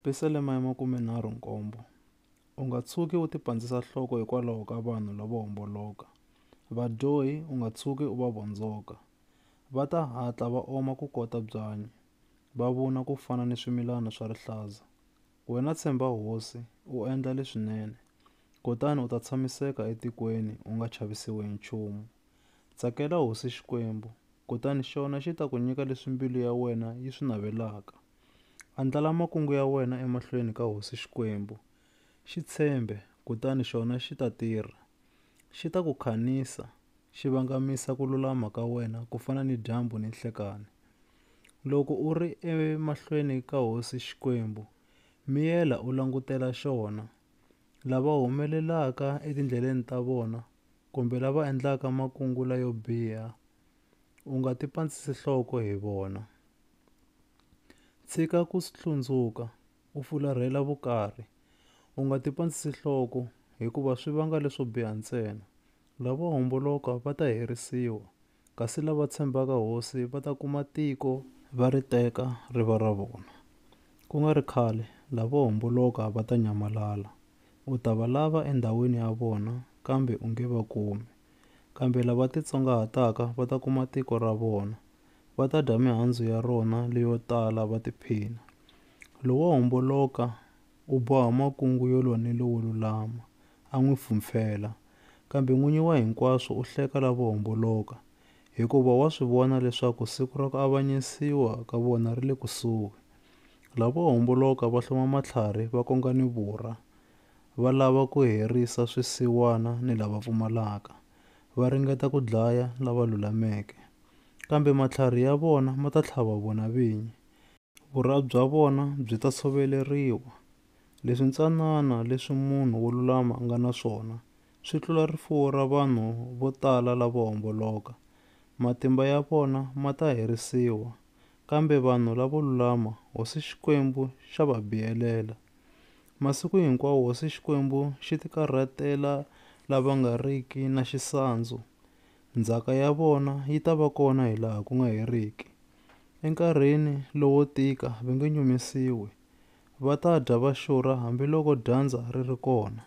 Pisalema ya makumenharhu nkombo, U nga tshuki u tipandzisa nhloko hikwalaho ka vanhu lavo homboloka, vadyohi u nga tshuki u va vondzoka. Va ta hatla va oma ku kota byanyi, va vuna ku fana ni swimilana swa rihlaza. Wena tshemba Hosi, u endla leswinene, kutani u ta tshamiseka etikweni u nga chavisiwi hi nchumu. Tsakela Hosi Xikwembu, kutani xona xi ta ku nyika leswi mbilu ya wena yi swi navelaka. Andlala makungu ya wena emahlweni ka hosi Xikwembu. Xi tshembe, kutani xona xi ta tirha. Xi ta ku khanisa, xi vangamisa ku lulama ka wena ku fana ni dyambu ni nhlekani. Loko u ri emahlweni ka hosi Xikwembu, miyela u langutela xona. Lava humelelaka etindleleni ta vona kumbe lava endlaka makungu layo biha, u nga tipandzisi nhloko hi vona. Tshika ku swi hlundzuka, u fularhela vukarhi. U nga tipandzisi nhloko, hikuva swi vanga leswo biha ntsena. Lavo homboloka va ta herisiwa, kasi lava tshembaka Hosi va ta kuma tiko va ri teka ri va ra vona. Ku nga ri khale, lavo homboloka va ta nyamalala. U ta va lava endhawini ya vona, kambe u nge va kumi. Kambe lava titsongahataka va ta kuma tiko ra vona, va ta dya mihandzu ya rona leyo tala va tiphina. Lowo homboloka u boha makungu yo lwa ni lowo lulama, a n'wi pfhumpfhela. Kambe n'winyi wa hinkwaswo u hleka lavo homboloka, hikuva wa swi vona leswaku siku ra ku avanyisiwa ka vona ri le kusuhi. Lavo homboloka va hloma matlhari va konga ni vurha, va lava ku herisa swisiwana ni lava pfumalaka, va ringeta ku dlaya lava lulameke. kambe matlhari ya vona ma ta tlhava vona vinyi. Vurha bya vona byi ta tshoveleriwa. Leswi ntsanana leswi munhu wo lulama a nga na swona swi tlula rifuwo ra vanhu vo tala lavo homboloka. Matimba ya vona ma ta herisiwa, kambe vanhu lavo lulama Hosi Xikwembu xa va biyelela. Masiku hinkwawo Hosi Xikwembu xi tikarhatela lava nga riki na xisandzu. Ndzhaka ya vona yi ta va kona hi laha ku nga heriki. Enkarhini lowo tika va nge nyumisiwi, va ta dya va xurha hambiloko dyandza ri ri kona.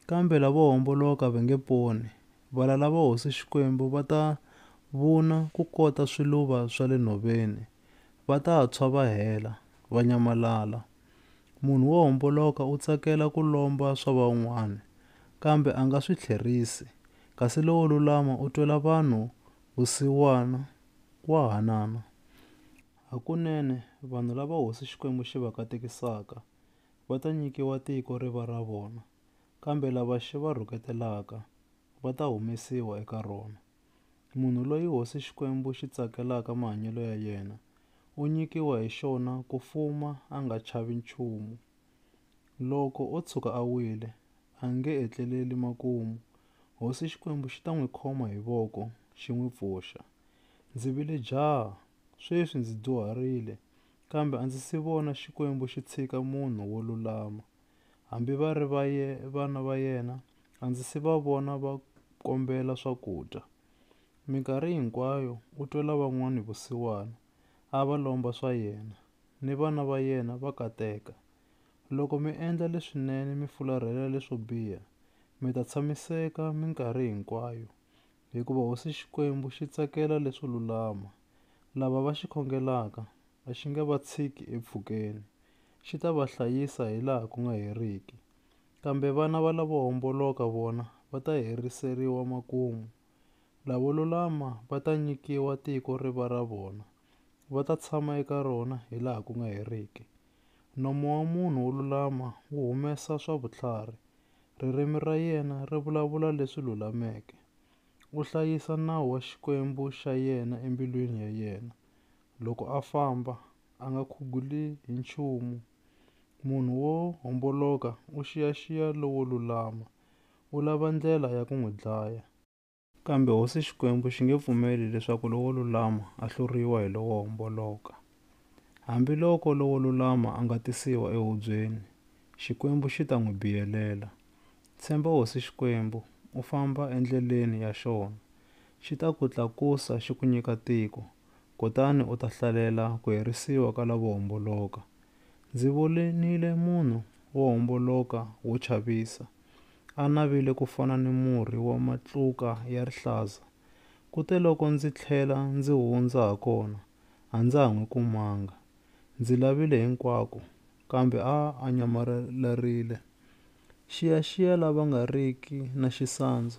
Kambe lavo homboloka va nge poni, valala va Hosi Xikwembu va ta vuna ku kota swiluva swa le nhoveni, va ta tshwa va hela, va nyamalala. Munhu wo homboloka u tsakela ku lomba swa van'wana, kambe a nga swi tlherisi, kasi lowo lulama u twela vanhu vusiwana, wa hanana. Hakunene, vanhu lava Hosi Xikwembu xi va katekisaka va ta nyikiwa tiko ri va ra vona, kambe lava xi va rhuketelaka va ta humesiwa eka rona. Munhu loyi Hosi Xikwembu xi tsakelaka mahanyelo ya yena, u nyikiwa hi xona ku fuma a nga chavi nchumu. Loko o tshuka a wile, a nge etleleli makumu, Hosi Xikwembu xi ta n'wi khoma hi voko xi n'wi pfuxa. Ndzi vile jaha, sweswi ndzi dyuharile, kambe a ndzi si vona Xikwembu xi tshika munhu wo lulama. Hambi va ri va ye, vana va yena, a ndzi si va vona va kombela swakudya. Minkarhi hinkwayo u twela van'wana vusiwana, a va lomba swa yena, ni vana va yena va kateka. Loko mi endla leswinene mi fularhela leswo biha, mi ta tshamiseka minkarhi hinkwayo, Hikuva Hosi Xikwembu xi tsakela leswo lulama, lava va xi khongelaka a xi nge va tshiki empfhukeni, xi ta va hlayisa hi laha ku nga heriki. Kambe vana va lavo homboloka vona va ta heriseriwa makumu. Lavo lulama va ta nyikiwa tiko ri va ra vona, va ta tshama eka rona hi laha ku nga heriki. Nomo wa munhu wo lulama wu humesa swa vutlhari, Ririmi ra yena ri vulavula leswi lulameke. U hlayisa nawu wa Xikwembu xa yena embilwini ya yena. Loko a famba, a nga khuguli hi nchumu. Munhu wo homboloka u xiyaxiya lowo lulama, u lava ndlela ya ku n'wi dlaya. Kambe Hosi Xikwembu xi nge pfumeli leswaku lowo lulama a hluriwa hi lowo homboloka. Hambi loko lowo lulama a nga tisiwa ehubyeni, Xikwembu xi ta n'wi biyelela. Tshemba Hosi Xikwembu, u famba endleleni ya xona. Xi ta ku tlakusa xi ku nyika tiko, kutani u ta hlalela ku herisiwa ka lavo homboloka. Ndzi vonile munhu wo homboloka wo chavisa. A navile ku fana ni murhi wa matluka ya rihlaza. Kuteloko ndzi tlhela ndzi hundza ha kona, a ndza ha n'wi kumanga. Ndzi lavile hinkwako, kambe a a nyamalalarile. Xiyaxiya lava nga riki na xisandzu